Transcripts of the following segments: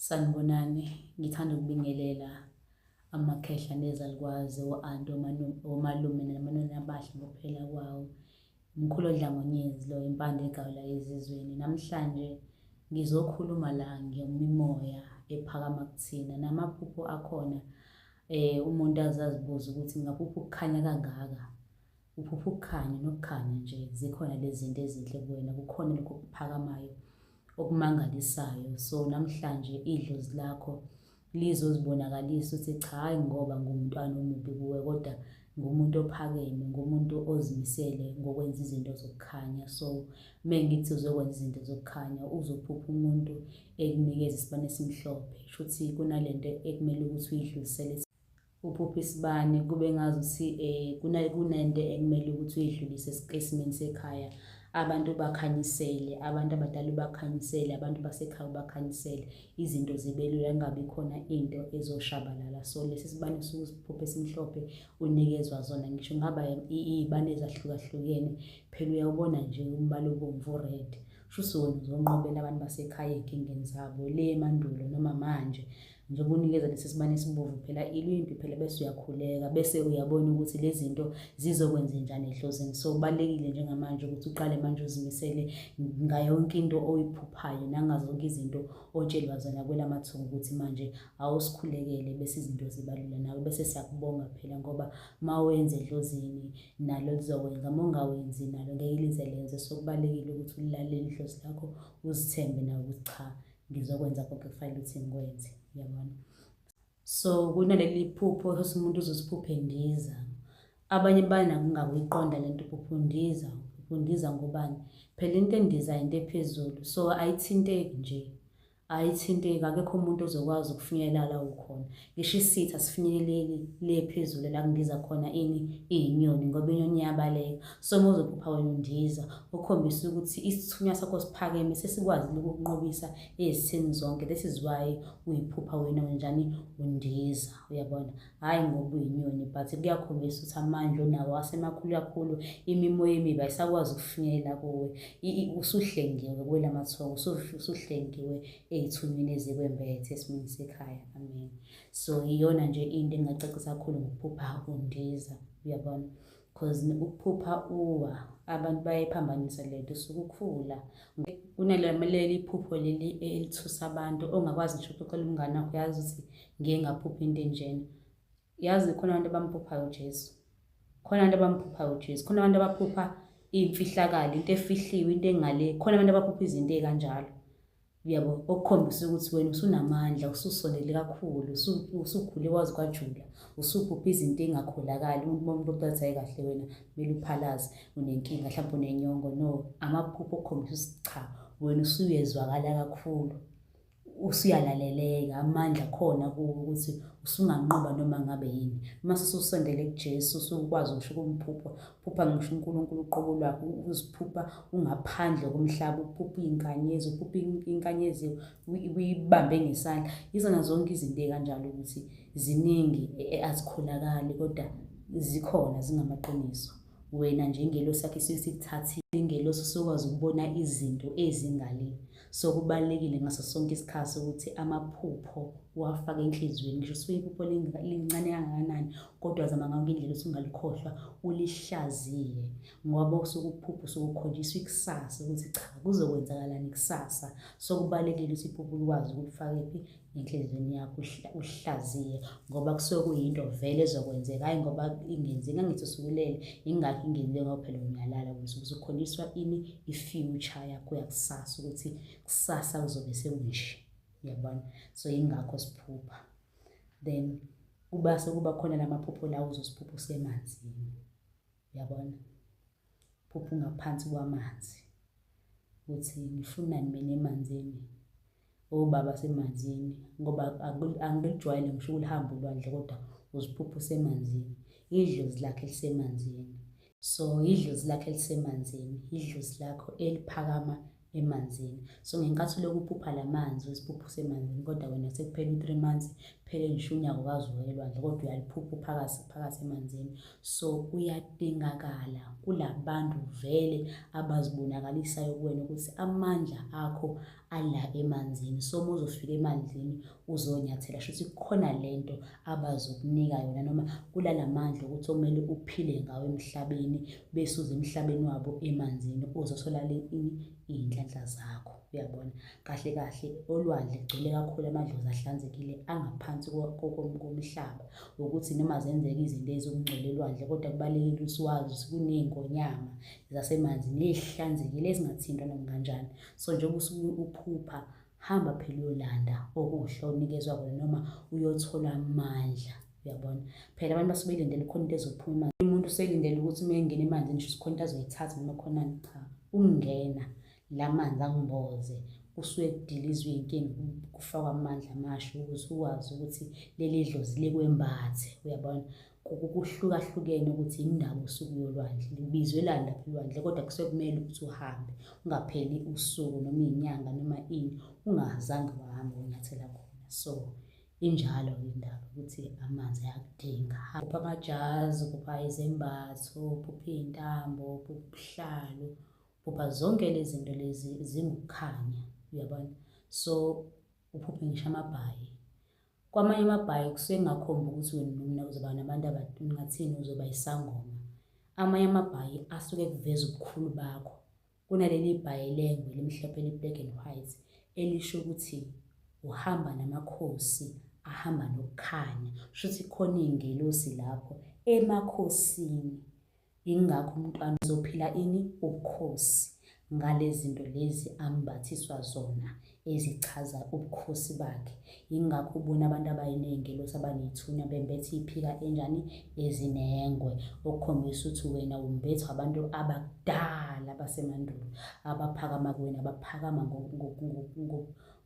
Sanibonani, ngithanda ukubingelela amakhehla nezalukwazi o-anti omalume namanoni abahle ngokuphela kwawo. Mkhulu odlangonyezi lo impande egawula ezizweni. Namhlanje ngizokhuluma la ngemimoya ephakama kuthina namaphupho akhona um umuntu azazibuza ukuthi ngaphupha ukukhanya kangaka Uphupha ukukhanya nokukhanya nje zikhona lezi zinto ezinhle kuwena kukhona lokho kuphakamayo okumangalisayo so namhlanje idlozi lakho lizozibonakalisa ukuthi cha hayi ngoba ngumntwana omubi kuwe kodwa ngumuntu ophakeme ngumuntu ozimisele ngokwenza izinto zokukhanya so mengithi uzokwenza izinto zokukhanya uzophupha umuntu ekunikeza isibane esimhlophe shuthi kunalento ekumele ukuthi uyidlulisele uphuphe isibani kube ngazuthi um kunento ekumele ukuthi uyidlulise esimeni sekhaya abantu ubakhanyisele abantu abadala ubakhanyisele abantu basekhaya ubakhanyisele izinto zibe lula kungabi khona into ezoshabalala so lesi sibani suke siphuphe esimhlophe unikezwa zona ngisho ngaba iy'bani ezahlukahlukene phela uyawubona nje umbala obomvu red shuthi wena uzonqobela abantu basekhaya ey'nkingeni zabo le mandulo noma manje njengoba unikeza lesi sibani esibovu phela ilwimpi phela bese uyakhuleka bese uyabona ukuthi lezi zinto zizokwenze njani ehlozini so kubalulekile njengamanje ukuthi uqale manje uzimisele ngayonke into oyiphuphayo nangazonke izinto otshelwa zona kwelamathunga ukuthi manje awusikhulekele bese izinto zibalula nawe bese siyakubonga phela ngoba uma wenze ehlozini nalo lizokwenza uma ungawenzi nalo ngeke lize lenze so kubalulekile ukuthi ulalele ihlozi lakho uzithembe nawe ukuthi cha ngizokwenza konke kufanele ukuthi ngikwenze uyabona so kunaleli phupho ukuthi umuntu uzosiphuphe ndiza abanye banakungakuyiqonda le nto uphupha undiza uphupha undiza ngobani phela into endiza into ephezulu so ayithinteki nje ayithinteki akekho umuntu ozokwazi ukufinyelela la ukhona Ngisho isithi asifinyeleleli le phezulu la kundiza khona ini iyinyoni ngoba inyoni iyabaleka. Soma uzophupha wena undiza, ukhombisa ukuthi isithunywa sakho siphakeme sesikwazile ukukunqobisa ezitheni zonke. This is why uyiphupha wena unjani undiza, uyabona? Hhayi ngoba uyinyoni but kuyakhombisa ukuthi amandla onawo asemakhulu kakhulu, imimoya emibi ayisakwazi ukufinyelela kuwe. Usuhlengiwe kuwela mathongo, usuhlengiwe ey'thunyweni ezikwembethe esimini sekhaya amen so iyona nje into engingacacisa kakhulu ngokuphupha undiza uyabona because ukuphupha uwa abantu bayayiphambanisa le nto usuke ukhula kunaleli phupho leli elithusa abantu ongakwazi ngisho ukuxoxela umngane wakho uyazi ukuthi ngiye ngaphupha into enjena yazi khona abantu abamphuphayo uJesu khona abantu abamphuphayo uJesu khona abantu abaphupha imfihlakalo into efihliwe into engale khona abantu abaphupha izinto ezikanjalo uyabo okukhombisa ukuthi wena usunamandla ususondele kakhulu usukhule kwazi kwajula usuphupha izinto engakholakali umuntu uma umuntu okuthatha hayi kahle wena kumele uphalaze unenkinga mhlawumbe unenyongo no amaphupho okukhombisa ukuthi cha wena usuyezwakala kakhulu usuyalaleleka amandla khona kuwo ukuthi usunganqoba noma ngabe yini uma sesusondele kuJesu usukwazi ngisho ukumphupha phupha ngisho uNkulunkulu uqobo lwakho uziphupha ungaphandle komhlaba uphupha inkanyezi uphupha inkanyezi uyibambe ngesandla izona zonke izinto ekanjalo ukuthi ziningi e, e, azikholakali kodwa zikhona zingamaqiniso wena njengelosi yakhe sikuthathile ingelosi usukwazi ukubona izinto ezingalile So kubalulekile ngaso sonke isikhathi ukuthi amaphupho uwafake enhliziyweni ngisho suke iphupho lincane kangakanani kodwa zama ngange indlela ukuthi ungalikhohlwa ulihlaziye ngoba usuke uphupho usuke ukhonjiswa ikusasa ukuthi cha kuzokwenzakalani kusasa so kubalulekile ukuthi iphupho likwazi ukulifaka phi enhliziyweni yakho uhlaziye ngoba kusuke kuyinto vele ezokwenzeka hhayi ngoba ingenzi ngangithi usukulele yingakho ingenile ngoba phela uyalala ukuthi uzokholiswa ini i-future yakho yakusasa ukuthi kusasa kuzobe sekunje uyabona so yingakho siphupha then kuba sekuba khona la maphupho lawo uzosiphupha usemanzini uyabona phupha ungaphansi kwamanzi ukuthi ngifunani mina emanzini obaba semanzini ngoba angikujwayele ngisho ukulihamba ulwandle kodwa uziphupha usemanzini idlozi lakhe lisemanzini so idlozi lakhe lisemanzini idlozi lakho eliphakama emanzini so ngenkathi uloku uphupha la manzi uziphupha usemanzini kodwa wena sekuphela u-three months phele ngisho unyaka ukazi uwelwandle kodwa uyaliphupha uphakathi phakathi emanzini so kuyadingakala kula bantu vele abazibonakalisayo kuwena ukuthi amandla akho ala emanzini so uma uzofika emanzini uzonyathela shuthi kukhona lento abazokunika yona noma kulala mandla ukuthi okumele uphile ngawo emhlabeni bese uze emhlabeni wabo emanzini uzothola iy'nhlanhla zakho uyabona kahle kahle olwandle kugcwele kakhulu amadlozi ahlanzekile angaphansi komhlaba ukuthi noma zenzeka izinto ezokungcwele elwandle kodwa kubalulekile ukuthi wazi ukuthi kuney'ngonyama zasemanzini ey'hlanzekile ezingathintwa noma kanjani so njengoba usuke uphupha hamba phela uyolanda okuhle onikezwa kona noma uyothola amandla uyabona phela abantu basuke belindele khona into ezophuma umuntu uselindele ukuthi uma engena emanzini ngisho sikhona into azoyithatha noma khonani cha ukungena la manzi angimboze kusuke kudilizwe iy'nkinga kufakwa amandla amasha ukuthi ukwazi ukuthi leli dlozi likwembathe uyabona kuhlukahlukene ukuthi indawo usuku yolwandle libizwe lani lapha elwandle kodwa kusuke kumele ukuthi uhambe ungapheli usuku noma iyinyanga noma ini ungazange wahambe unyathela khona so injalo indaba ukuthi amanzi ayakudinga kupha amajazi kupha izembatho kupha iy'ntambo kupha ubuhlalu kupha zonke lezi zinto lezi zingukukhanya uyabona so uphuphe ngisho amabhayi Kwamanye amabhayi kusuke kungakhombi ukuthi wena nomna uzoba nabantu abangathini uzoba isangoma. Amanye amabhayi asuke kuveza ubukhulu bakho. Kunaleli bhayi lengwe elimhlophe eli-black and white elisho ukuthi uhamba namakhosi ahamba nokukhanya. Kusho ukuthi khona iy'ngelosi lapho emakhosini. Ingakho umntwana uzophila ini ubukhosi ngalezinto lezi ambathiswa zona ezichaza ubukhosi bakhe ingakho ubona abantu abayiningi lothi abanethunya bembethe iphika enjani ezinengwe okukhombisa ukuthi wena umbethwa abantu abakudala basemandulo abaphakama kuwena abaphakama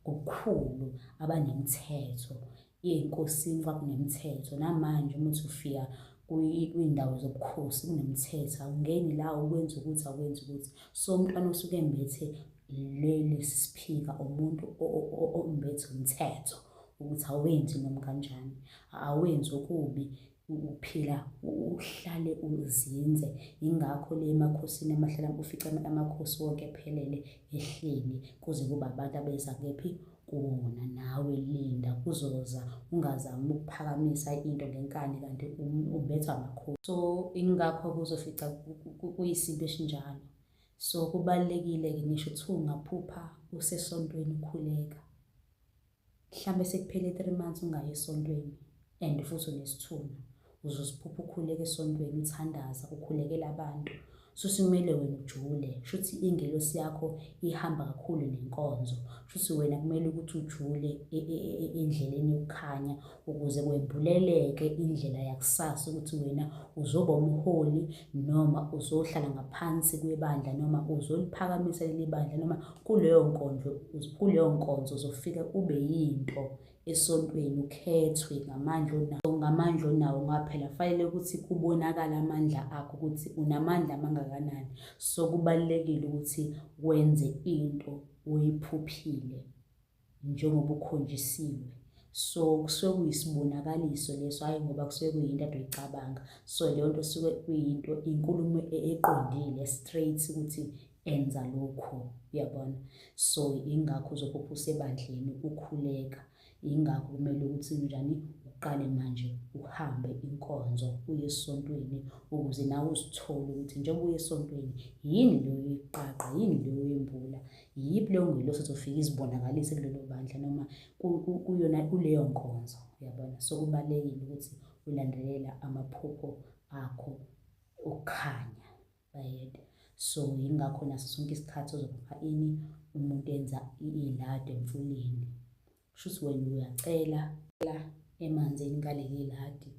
ngokukhulu abanemthetho yenkosini kwakunemthetho namanje uma uthi ufika kuyindawo zobukhosi kunemthetho awungeni la ukwenza ukuthi akwenza ukuthi so umntwana osuke embethe leli siphika umuntu ombethe umthetho ukuthi awenzi noma kanjani awenzi okubi ukuphila uhlale uzinze yingakho le emakhosini amahlala ufica amakhosi wonke ephelele ehleli kuze kuba abantu abeza kephi kuwona nawe linda kuzoza ungazami ukuphakamisa into ngenkani kanti ubethwa amakhosi so ingakho kuzofica kuyisinto esinjalo so kubalulekile-ke ngisho kuthiwa ungaphupha usesontweni ukhuleka mhlambe sekuphele 3 months ungayi esontweni and futhi unesithunywa uzosiphupha ukhuleka esontweni uthandaza ukhulekela abantu susimele wena ujule shuthi ingelosi yakho ihamba kakhulu nenkonzo shuthi wena kumele ukuthi ujule e, e, e, endleleni yokukhanya ukuze kwembuleleke indlela yakusasa ukuthi wena uzoba umholi noma uzohlala ngaphansi kwebandla noma uzoliphakamisa leli bandla noma kuleyo nkonzo kuleyo nkonzo uzofika ube yinto esontweni ukhethwe ngamandla onawo ngamandla onawo ngoba phela kufanele ukuthi kubonakale amandla akho ukuthi unamandla amangakanani so kubalulekile ukuthi wenze into oyiphuphile njengoba ukhonjisiwe so kusuke kuyisibonakaliso leso hhayi ngoba kusuke kuyinto ade uyicabanga so leyo nto suke kuyinto inkulumo e-, eqondile straight ukuthi enza lokhu uyabona so ingakho uzophupha usebandleni ukhuleka ingakho kumele ukuthi njani uqale manje uhambe inkonzo uye esontweni ukuze nawe uzithole ukuthi njengoba uye esontweni yini leyo iqaqa yini leyo yembula yiyiphi leyo ngelosi ezofike izibonakalise kulelo bandla noma kuyona kuleyo nkonzo uyabona so kubalulekile ukuthi ulandelela amaphupho akho okukhanya bayede so yingakho naso sonke isikhathi uzopha ini umuntu enza ilado emfuleni Shuthi wena uyacela la emanzini ngaleli ladi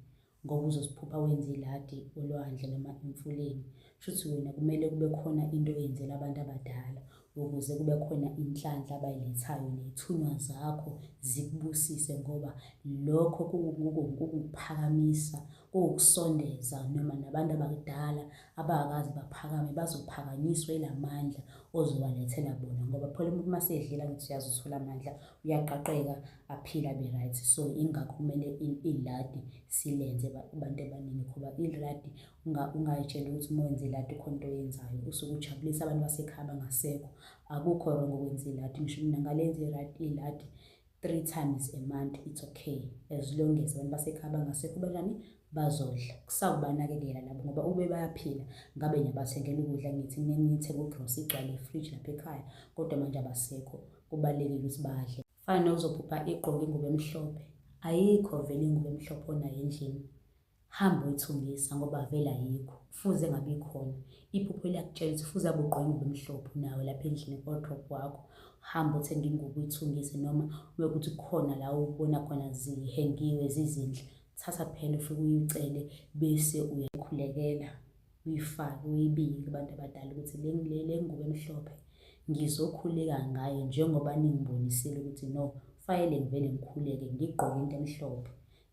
ngoba uzosiphupha wenza iladi olwandle noma emfuleni. Shuthi wena kumele kube khona into oyenzela abantu abadala ukuze kube khona inhlanhla abayilethayo ney'thunywa zakho zikubusise ngoba lokho kukuphakamisa kuwukusondeza noma nabantu abakudala abakazi baphakame bazophakanyiswa ilamandla ozowalethela bona ngoba phela umuntu uma sedlela ngithi uyazi uthola amandla uyaqaqeka aphila be right so ingakho kumele iladi silenze abantu abaningi ngoba iladi ungayitshela ukuthi uma wenze iladi khona into oyenzayo usuke ujabulisa abantu basekhaya bangasekho akukho wrong okwenza iladi ngisho mina ngalenza iladi three times a month it's okay as long as abantu basekhaya bangasekho benani bazodla kusawubanakekela labo ngoba ube bayaphila ngabe ngiyabathengela ukudla ngithi ngithe kugross igcwale ifridge lapha ekhaya kodwa manje abasekho kubalulekile ukuthi badle fana nokuzobhubha igqoke ingubo emhlophe ayikho vele ingubo emhlophe onayo endlini Hamba uyithungisa ngoba vele ayikho. Kufuze ngabe ikhona. Iphupho liyakutshela ukuthi kufuze abe ugqoke ingubo emhlophe nawe lapha endlini ku-wardrobe wakho. Hamba uthenge ingubo uyithungise noma uma kuthi kukhona la ubona khona zihengiwe zizinhle, thatha phela ufike uyicele bese uyayikhulekela, uyifake, uyibike kubantu abadala ukuthi le le le ngubo emhlophe ngizokhuleka ngayo njengoba ningibonisile ukuthi no, kufanele ngivele ngikhuleke ngigqoke into emhlophe.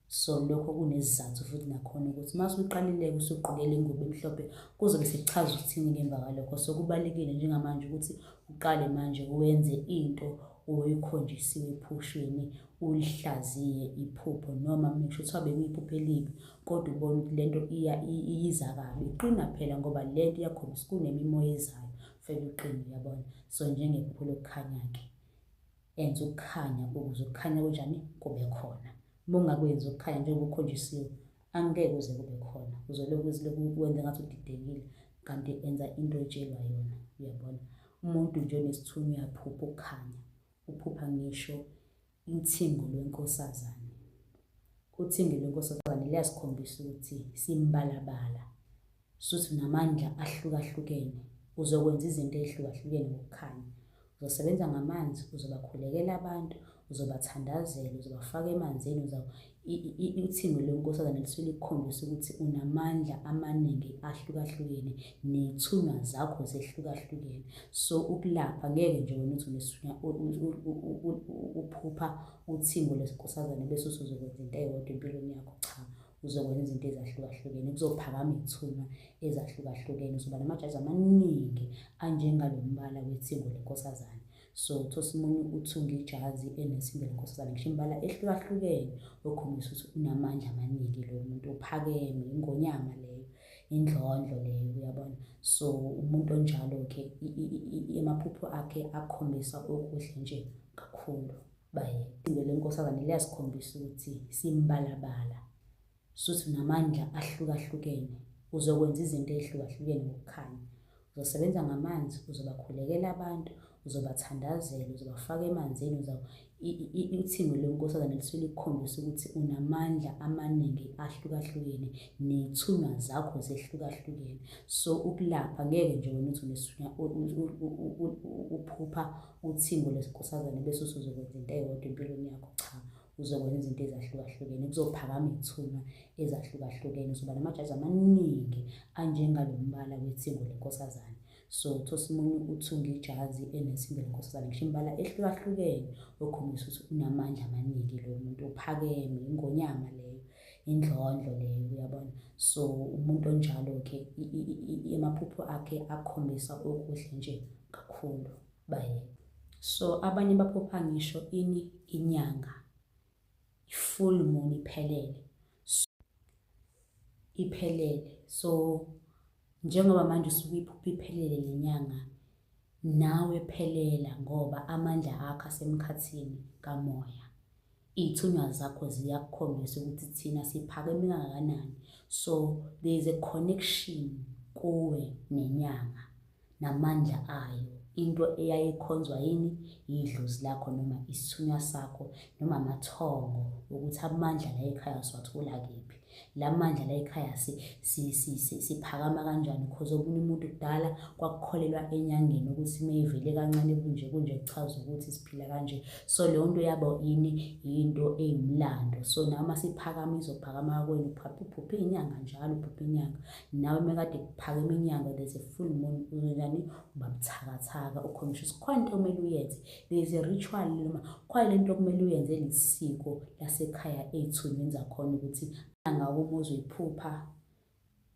so lokho kunesizathu futhi nakhona ukuthi uma usuqalileke usuqokela ingubo emhlophe kuzobe sekuchaza ukuthini ngemva kwalokho so kubalulekile njengamanje ukuthi uqale manje wenze into oyikhonjisiwe ephushweni ulihlaziye iphupho noma ngisho kuthiwa bekuyiphupho elibi kodwa ubona ukuthi le nto iya iyiza kabi qina phela ngoba le nto iyakhombisa kunemimoya ezayo fela uqine uyabona so njengephupho lokukhanya-ke enza ukukhanya ukuze ukukhanya kwenjani kube khona uma ungakwenzi ukukhanya njengoba ukhonjisiwe angeke uze kube khona uzolokhu uzilokhu ukwenza ngathi udidekile kanti enza into etshelwa yona uyabona umuntu nje onesithunywa uyaphupha ukukhanya uphupha ngisho ithingo lwenkosazane uthingo lwenkosazane liyasikhombisa ukuthi simbalabala Suthi namandla ahlukahlukene uzokwenza izinto ezihlukahlukene ngokukhanya. Uzosebenza ngamanzi, uzobakhulekela abantu, uzobathandazela, uzobafaka emanzini, uthimbe lwenkosazane lisuke likukhombisa ukuthi unamandla amaningi ahlukahlukene ney'thunywa zakho zehlukahlukene. So ukulapha ngeke nje wena uthi unesinya uphupha uthimbo lwenkosazane bese usuzokwenza into eyodwa empilweni yakho, cha. uzokwenza izinto ezahlukahlukene kuzophakama iy'thunywa ezahlukahlukene uzoba namajaji amaningi anjengalo mbala wethingo lenkosazane so thosimunye uthunga ijazi enesimbe lenkosazane ngisho imbala ehlukahlukene okhombisa ukuthi unamandla amaningi lo muntu uphakeme ingonyama leyo indlondlo leyo uyabona so umuntu onjalo-ke amaphupho akhe akhombisa okuhle nje kakhulu baye izinto lenkosazane liyasikhombisa ukuthi simbalabala suthi namandla ahlukahlukene uzokwenza izinto ezihlukahlukene ngokukhanya uzosebenza ngamanzi uzobakhulekela abantu uzobathandazela uzobafaka emanzini uthingo lenkosazane lisuke likukhombisa ukuthi unamandla amaningi ahlukahlukene ney'thunywa zakho zehlukahlukene so ukulapha ngeke nje wena uthi uphupha uthimbo lesinkosazane bese usuzokwenza into eyodwa empilweni yakho cha uzokwenza izinto ezahlukahlukene kuzophakama iy'thunywa ezahlukahlukene uzoba namajaji amaningi anjengalo mbala wethingo lenkosazane so thosimunye uthunga ijazi enethimbo lenkosazane ngisho imbala ehlukahlukene okhombisa ukuthi unamandla amaningi lo muntu uphakeme ingonyama leyo indlondlo leyo uyabona so umuntu onjalo ke amaphupho akhe akhombisa okuhle nje kakhulu baye so abanye baphupha ngisho ini inyanga i-full moon iphelele iphelele so Njengoba manje usuke iphupha iphelele le nyanga, nawe phelela ngoba amandla akho asemkhathini kamoya. Iy'thunywa zakho ziyakukhombisa ukuthi thina siphakeme kangakanani. So there is a connection kuwe nenyanga. namandla ayo into eyayikhonzwa yini yidlozi lakho noma isithunywa sakho noma amathongo ukuthi amandla la ekhaya siwathola kephi la mandla la ekhaya siphakama kanjani because okunye umuntu kudala kwakukholelwa enyangeni ukuthi uma ivele kancane kunje kunje kuchaza ukuthi siphila kanje so leyo nto yabo yini yinto eyimlando so noma siphakama izophakama kwenu phuphe inyanga njalo phuphe inyanga nawe mekade kuphakeme inyanga there's a full moon uzonjani uba buthakathaka ukhomisha sikhona into okumele uyenze there's a ritual noma khona lento okumele uyenze lisiko lasekhaya ey'thunywini zakhona ukuthi nangawo uma uzoyiphupha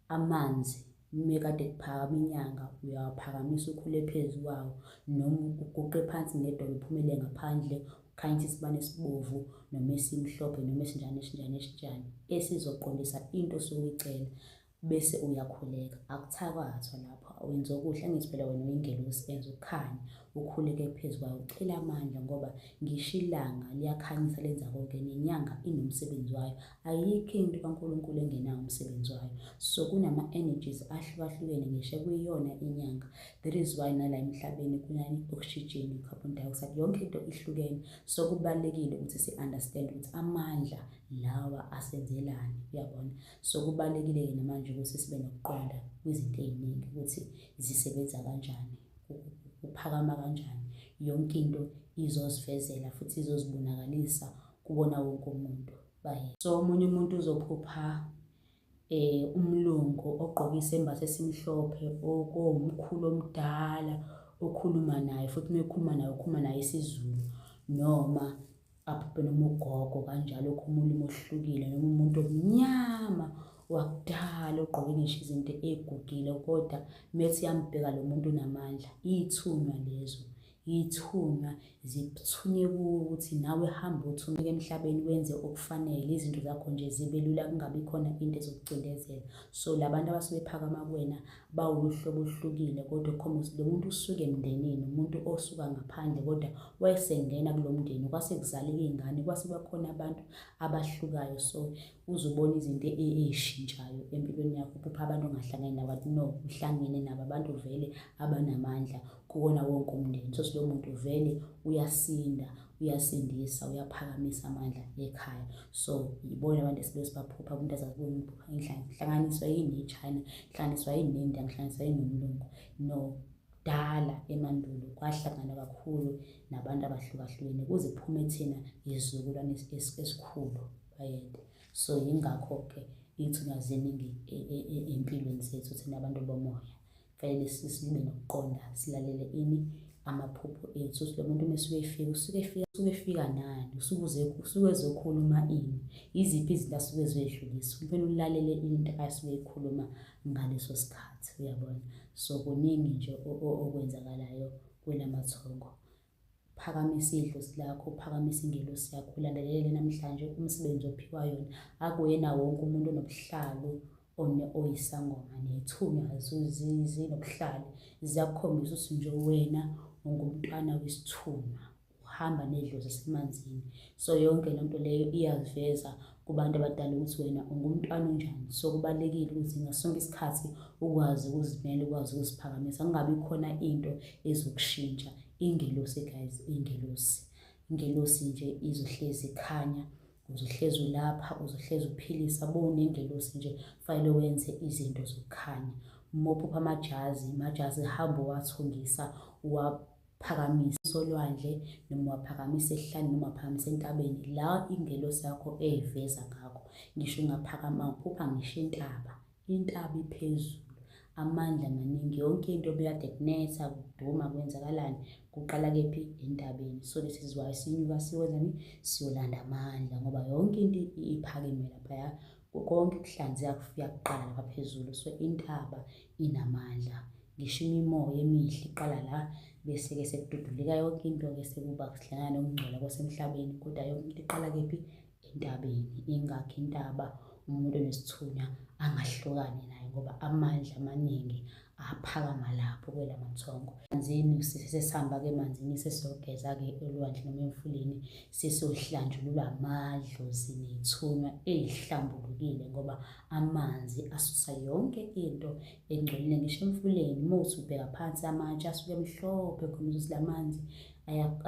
amanzi mekade kuphakama inyanga uyawaphakamisa ukhule phezu kwawo noma uguqe phansi ngedolo uphumele ngaphandle khanyisa isibani esibovu noma esimhlophe noma esinjani esinjani esinjani esizoqondisa into osuke uyicela bese uyakhuleka akuthakathwa lapho wenza okuhle angithi phela wena uyingelosi enza ukukhanya ukhuleke phezu kwayo ucela amandla ngoba ngisho ilanga liyakhanyisa lenza konke nenyanga inomsebenzi wayo ayikho into kaNkulunkulu engenawo umsebenzi wayo so kunama-energies ahlukahlukene ngisho kuyiyona inyanga That is why nala emhlabeni kunani oxygen carbon dioxide yonke into ihlukene so kubalekile ukuthi si understand ukuthi amandla lawa asenzelani uyabona so kubalekile ke namanje ukuthi sibe nokuqonda kwizinto eziningi ukuthi zisebenza kanjani uphakama kanjani yonke into izozivezela futhi izozibonakalisa kubona wonke umuntu baye so omunye umuntu uzophupha eh umlungu ogqoke isembatho esimhlophe okuwumkhulu omdala okhuluma naye futhi uma ekhuluma naye ukhuluma naye isiZulu noma abhubhe noma ugogo kanjalo okhuluma ulimi oluhlukile noma umuntu omnyama wakudala ogqoke ngisho izinto egugile kodwa methi yambheka lo muntu unamandla iy'thunywa lezo Yithunywa, zithunye kuwe ukuthi nawe hamba uthumeke emhlabeni wenze okufanele, izinto zakho nje zibe lula kungabi khona into ezokucindezela. So labantu abasuke bephakama kuwena bawuluhlobo oluhlukile kodwa okhomba ukuthi lo muntu usuke emndenini, umuntu osuka ngaphandle kodwa wayesengena kulo mndeni, kwase kuzaleka iy'ngane, kwase kwakhona abantu abahlukayo. So uzubona izinto ey'shintshayo empilweni yakho uphupha abantu ongahlangani nabo athi no uhlangene nabo abantu vele abanamandla kuwona wonke umndeni so silowo muntu vele uyasinda uyasindisa uyaphakamisa amandla ekhaya so yibona abantu esibe sibaphupha kumuntu azazibona umphupha inhlanganiswa yini nechina inhlanganiswa yini nendiya inhlanganiswa yini nomlungu no kudala emandulo kwahlangana kakhulu nabantu abahlukahlukene kuze kuphume thina izizukulwane esikhulu bayede so yingakho-ke iy'thunywa ziningi ey'mpilweni zethu thina abantu bomoya kufanele sibe nokuqonda silalele ini amaphupho ethu ukuthi lo muntu uma esuke efika usuke efika usuke efika nani usuke usuke ezokhuluma ini yiziphi izinto asuke ezwedlulisa kumele ulalele into asuke eyikhuluma ngaleso sikhathi uyabona so kuningi nje okwenzakalayo kwelamathongo phakama isidlozi lakho uphakamisa ingelosi yakho ulandelele namhlanje umsebenzi ophiwa yona akuyena wonke umuntu onobuhlalo oyisangoma nethunywa zinobuhlalo ziyakukhombisa ukuthi nje wena ungumntwana wesithunywa uhamba nedlozi esemanzini so yonke lento leyo iyaziveza kubantu abadala ukuthi wena ungumntwana onjani so kubalulekile ukuthi ngasonke isikhathi ukwazi ukuzimela ukwazi ukuziphakamisa kungabi khona into ezokushintsha ingelosi guys ingelosi ingelosi nje izohlezi ikhanya uzohlezi ulapha uzohlezi uphilisa bowunengelosi nje fanele wenze izinto zokukhanya mophupha amajazi majazi hamba uwathungisa phakamisa solwandle noma waphakamisa esihlani noma waphakamisa entabeni la ingelosi yakho eyiveza ngakho ngisho ungaphakama uphupha ngisho intaba intaba iphezulu amandla maningi yonke into obekade kunetha kuduma kwenzakalani kuqala kephi entabeni so this is why sinyuka siwenzani siyolanda amandla ngoba yonke into iphakeme laphaya Konke ukuhlanzeka kufika kuqala kwaphezulu so intaba inamandla ngisho imimoya emihle iqala la bese-ke sekududuleka yonke into-ke sekuba kuhlangana nokungcola kwasemhlabeni kodwa yonke into iqala kephi entabeni ingakho intaba umuntu onesithunywa angahlukani nayo ngoba amandla amaningi aphakama lapho kwela mathongo manzini sesihamba ke manzini sesizogeza ke olwandle noma emfuleni sesohlanjulula amadlozi nethunywa ezihlambulukile ngoba amanzi asusa yonke into engcolile ngisho emfuleni uma uthi ubheka phansi amatshe asuke emhlophe khona ukuthi la manzi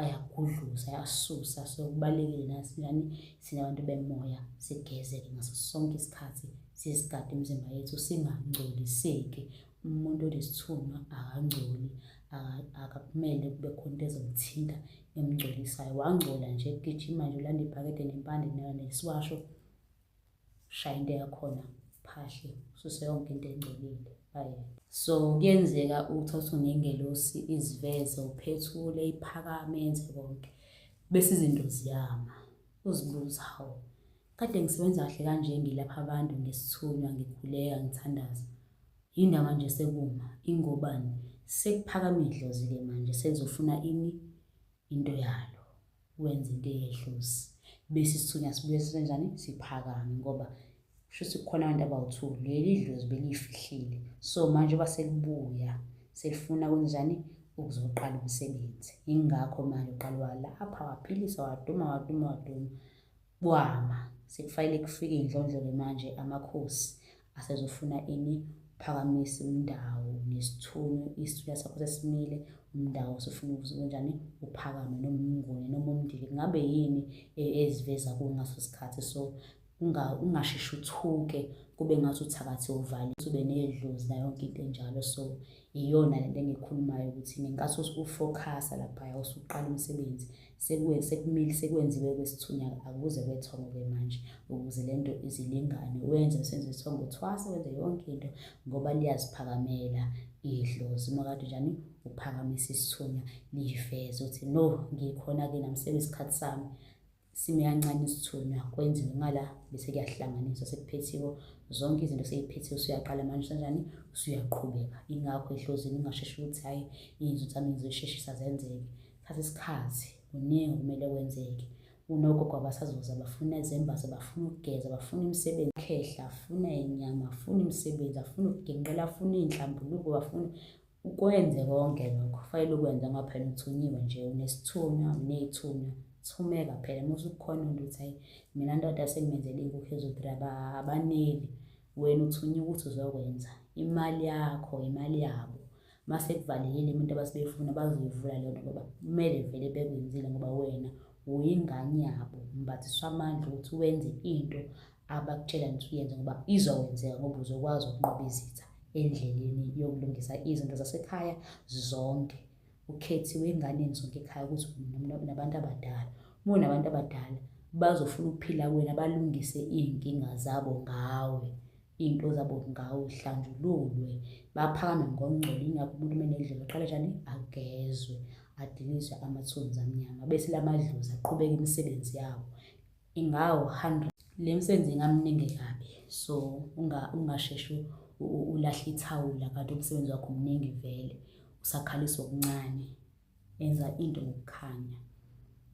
ayagudluza ayasusa so kubalulekile nasinjani sinabantu bemoya sigeze-ke ngaso sonke isikhathi sisigade imizimba yethu singangcoliseki. Umuntu onesithunywa akangcoli, akumele kube khona into ezomthinta emngcolisayo. Wangcola nje gijima nje ulanda ibhakede nempande nesiwasho, shaya into yakhona phahle ususe yonke into engcolile bayeke. So kuyenzeka ukuthi uthi unengelosi iziveze uphethule iphakame yenze konke bese izinto ziyama. Uzibuza hawu Kade ngisebenza kahle kanje ngilapha abantu ngesithunywa ngikhuleka ngithandaza. Yinda manje sekuma ingobani sekuphakama idlozi ke manje selizofuna ini into yalo wenza into eyedlozi bese isithunywa sibuye sisenjani siphakame ngoba kusho ukuthi kukhona abantu abawu-two leli dlozi beliyifihlile so manje uba selibuya selifuna kwenzenjani ukuzoqala umsebenzi yingakho manje uqala walapha waphilisa waduma waduma waduma Kwama sekufanele kufike indlondlo-ke manje amakhosi asezofuna ini phakamisa umndawo nesithunywa isithunywa sakho sesimile umndawo usufuna ukuthi kunjani uphakame noma umnguni noma umndili kungabe yini e, eziveza kuwo ngaso sikhathi so ungasheshi uthuke kube ngathi uthakathi uvale ube nedlozi nayo yonke into enjalo so iyona lento engikhulumayo ukuthi ngenkathi ufocusa laphaya usuqala umsebenzi sekumile sekwenziwe kwesithunya akuze kwethongo-ke manje ukuze le nto izilingane wenze senze isithongo uthwase wenze yonke into ngoba liyaziphakamela idlozi uma kade njani uphakamisa isithunya liyiveze ukuthi no ngikhona-ke nami sebesikhathi sami sime kancane isithunywa kwenziwe ngala bese kuyahlanganiswa sekuphethiwe zonke izinto seyiphethiwe usuyaqala manje sanjani usuyaqhubeka ingakho ehlozini ungasheshi ukuthi hhayi iy'nzuthi zami ngizoyisheshisa zenzeke thatha isikhathi kuningi kumele kwenzeke unogogo abasazoza bafuna izembatho bafuna ukugeza bafuna imisebenzi khehla afuna inyama afuna imisebenzi afuna ukuginqela afuna iy'nhlambuluko bafuna ukwenze konke lokho kufanele ukwenze ngoba phela uthunyiwe nje unesithunywa uney'thunywa thumeka phela uma usukhona into ukuthi hayi mina ndoda sengimenzele inkukhu ezo-three abaneli wena uthunyiwe ukuthi uzokwenza imali yakho imali yabo uma sekuvalelile umuntu abasebeyifuna bazoyivula leyo nto ngoba kumele vele bekwenzile ngoba wena uyingane yabo mbathiswa amandla ukuthi wenze into abakutshela ukuthi uyenze ngoba izokwenzeka ngoba uzokwazi ukunqoba izitha endleleni yokulungisa izinto zasekhaya zonke ukhethiwe enganeni zonke ekhaya ukuthi nabantu abadala uma unabantu abadala bazofuna ukuphila kwena balungise iy'nkinga zabo ngawe iy'nto zabo ngawo zihlanjululwe baphakame ngokungcola ingakho umuntu uma enedlelo aqale njani agezwe adiliswe amathunzi amnyama bese la madlozi aqhubeke imisebenzi yawo ingawo 100 le msebenzi ingamningi kabi so ungasheshi ulahle ithawula kanti umsebenzi wakho mningi vele usakhalisa okuncane enza into ngokukhanya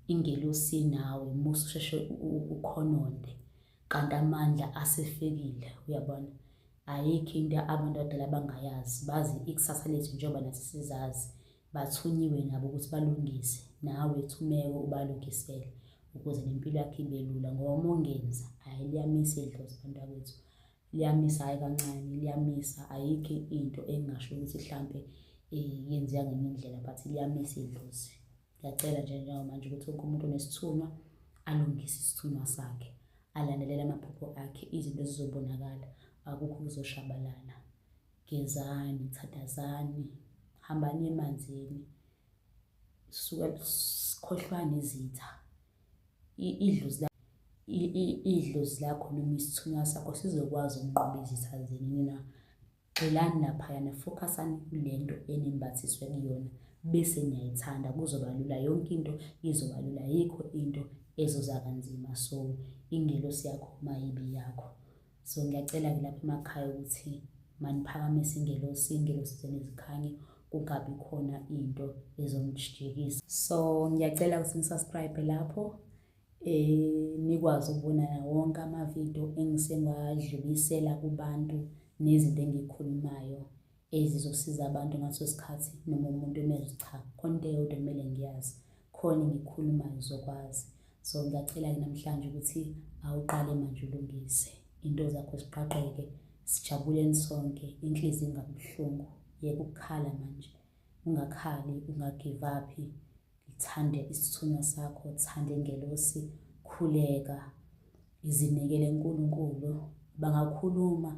ingelosi nawe musa usheshe ukhononde kanti amandla asefikile uyabona ayikho into abantu abadala abangayazi bazi ikusasa lethu njengoba nathi sizazi bathunyiwe nabo ukuthi balungise nawe thumeko ubalungisele ukuze nempilo yakhe ibe lula ngoba uma ungenza hhayi liyamisa idlozi bantakwethu liyamisa hhayi kancane liyamisa ayikho into engingasho ukuthi mhlampe um yenzeka ngenye indlela but liyamisa idlozi Ngiyacela nje njengamanje ukuthi wonke umuntu onesithunywa alungise isithunywa sakhe, alandelele amaphupho akhe, izinto zizobonakala, akukho kuzoshabalala. Gezani, thathazani, hambani emanzini, suka sikhohlwani izitha. Idlozi idlozi lakho noma isithunywa sakho sizokwazi ukunqoba izitha zenu na? Gxilani laphayana, focusani kulento enimbathiswe kuyona bese niyayithanda kuzoba lula yonke into izoba lula ayikho into ezoza kanzima so ingelosi yakho mayibi yakho. So ngiyacela-ke lapha emakhaya ukuthi maniphakamise ingelosi, ingelosi zenezikhanye kungabi khona into ezomjikisa. So ngiyacela ukuthi nisubscribe lapho um nikwazi ukubona na wonke amavidiyo engisengiwadlulisela kubantu nezinto engiyikhulumayo ezizosiza abantu ngaso sikhathi noma umuntu umezwe cha khona into eyodwa kumele ngiyazi khona engikhulumayo uzokwazi so ngiyacela-ke namhlanje ukuthi awuqale manje ulungise into zakho ziqaqeke sijabuleni sonke inhliziyo ingabuhlungu yeka ukukhala manje ungakhali ungagive uphi Ngithande isithunywa sakho, thande ngelosi, khuleka. Ngizinikele uNkulunkulu, bangakhuluma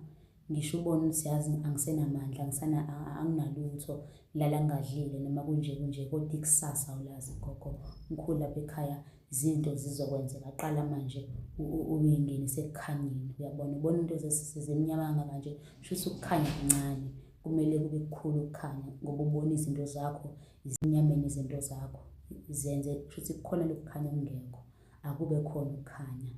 ngisho ubone ukuthi yazi angisenamandla, angisana anginalutho, lala ngadlile noma kunje kunje kodwa ikusasa awulazi gogo. Mkhulu lapha ekhaya izinto zizokwenzeka, qala manje uyingenise ekukhanyeni, uyabona? Ubona into zimnyama kangaka nje, shuthi ukukhanya kuncane, kumele kube kukhulu ukukhanya ngoba ubona izinto zakho ezinyameni izinto zakho zenze kushuthi kukhona lokukhanya okungekho akube khona ukukhanya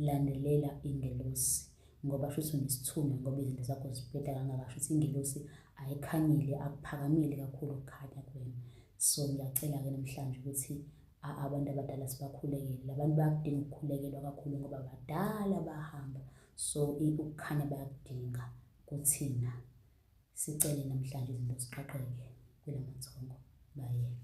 landelela ingelosi ngoba shuthi unesithunywa ngoba izinto zakho zibheda kangaka shuthi ingelosi ayikhanyile akuphakamile kakhulu ukukhanya kuwena so ngiyacela-ke namhlanje ukuthi abantu abadala sibakhulekele labantu bayakudinga ukukhulekelwa kakhulu ngoba badala bahamba so ukukhanya bayakudinga kuthina Sicele namhlanje izinto ziqaqeke kulamathongo bayeke.